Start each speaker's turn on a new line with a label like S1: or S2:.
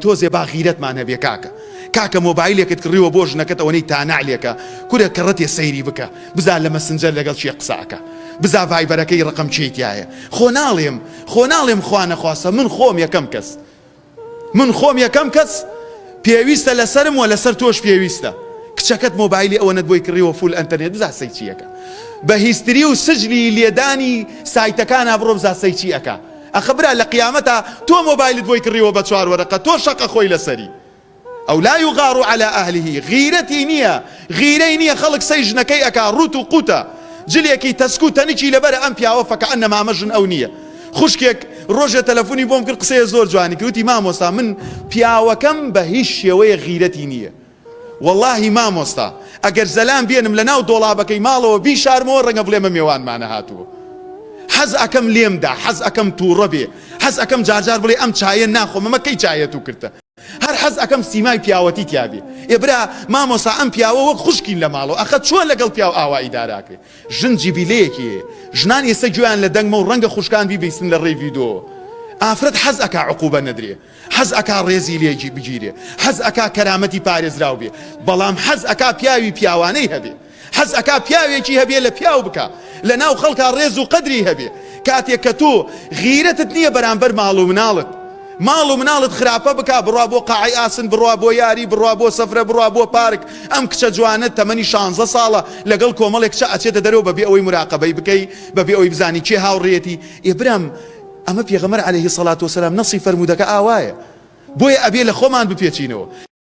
S1: تۆزێ با غیرەتمان هەبێ کاکە کاکە مۆبایلێکت کڕیوە بۆ ژنەکەت ئەوەنەی تانەعلێکە کورە کەڕەتێ سەیری بکە بزا لە مەسنجەر لەگەڵ کێ قسە ئەکا بزا ڤایبەرەکەی ڕەقەم کێی تیایە خۆ ناڵێم خۆ ناڵێم خوا نەخواستە من خۆم یەکەم کەس من خۆم یەکەم کەس پێویستە لەسەرم وە لەسەر تۆش پێویستە کچەکەت مۆبایلی ئەوەنەت بۆی کڕیوە فول ئەنتەرنێت بزا سەی چیەکە بە هیستری و سجلی لێدانی سایتەکانا بڕۆ بزا سەی چی ئەکا ئەخە برا لە قیامەتا تۆ مۆبایلت بۆی کڕیوە بە چوار وەرەقە تۆ شەق ئەخۆی لەسەری ئەو لا یغار علی اهله غیرەتی نیە غیرەی نیە خەڵک سەی ژنەکەی ئەکا ڕوت و قوتە جلێکی تەسک و تەنکی لەبەرە ئەم پیاوە فەکەئەنەما ئەمە ژن ئەو نیە خوشکێک ڕۆژێ تەلەفونی بۆم کرد قسەیە زۆر جوانی کرد وتی مامۆستا من پیاوەکەم بە هیچ شێوەیە غیرەتی نیە وەڵاهی مامۆستا ئەگەر زەلام بێنم لەناو دۆڵابەکەی ماڵەوە بیشارمەوە ڕەنگە بڵێمە مێوانمانە هاتووە حەز ئەکەم لێم دا حەز ئەکەم توڕە بێ حەز ئەکەم جارجار بڵێ ئەم چایە ناخۆم ئەمە کەی چایە تو کردتە هەر حەز ئەکەم سیمای پیاوەتی تیابێ ئێ برا مامۆسا ئەم پیاوە وەک خوشکین لە ماڵەوە ئەخە چۆن لەگەڵ پیاو ئاوا ئیداراکرێ ژن جیبیلەیەکی هەیە ژنان ئێستا گوێیان لە دەنگمە و ڕەنگە خوشکان بیبیستن لە ڕێی ڤیدۆوە ئافرەت حەز ئەکا عقوبە نەدرێ حەز ئەکا ڕێزی لێ بگیرێ، حەز ئەکا کەرامەتی پارێزراو بێ، بەڵام حەز ئەکا پیاوی پیاوانەی هەبێ، حەز ئەکا پیاوێکی هەبێ لە پیاو بکا، لە ناو خەڵکا ڕێز و قەدری هەبێ. کاتێ کە تۆ غیرەتت نییە بەرامبەر ماڵ و مناڵت، ماڵ و مناڵت خراپە بکا، بڕوا بۆ قاعەی ئاسن، بڕوا بۆ یاری، بڕوا بۆ سەفرە، بڕوا بۆ پارک، ئەم کچە جوانە تەمەنی شانزە ساڵە لەگەڵ کۆمەڵێک کچە ئەچێتە دەرەوە بەبێ ئەوەی موراقەبەی بکەی، بەبێ ئەوەی بزانی کێ هاوڕێیەتی، ئێ برام، ئەمە پێغەمبەر علیە سەڵات وسلام نەصی فەرموودەکە ئاوایە بۆیە ئەبێ لەخۆمان بپێچینەوە.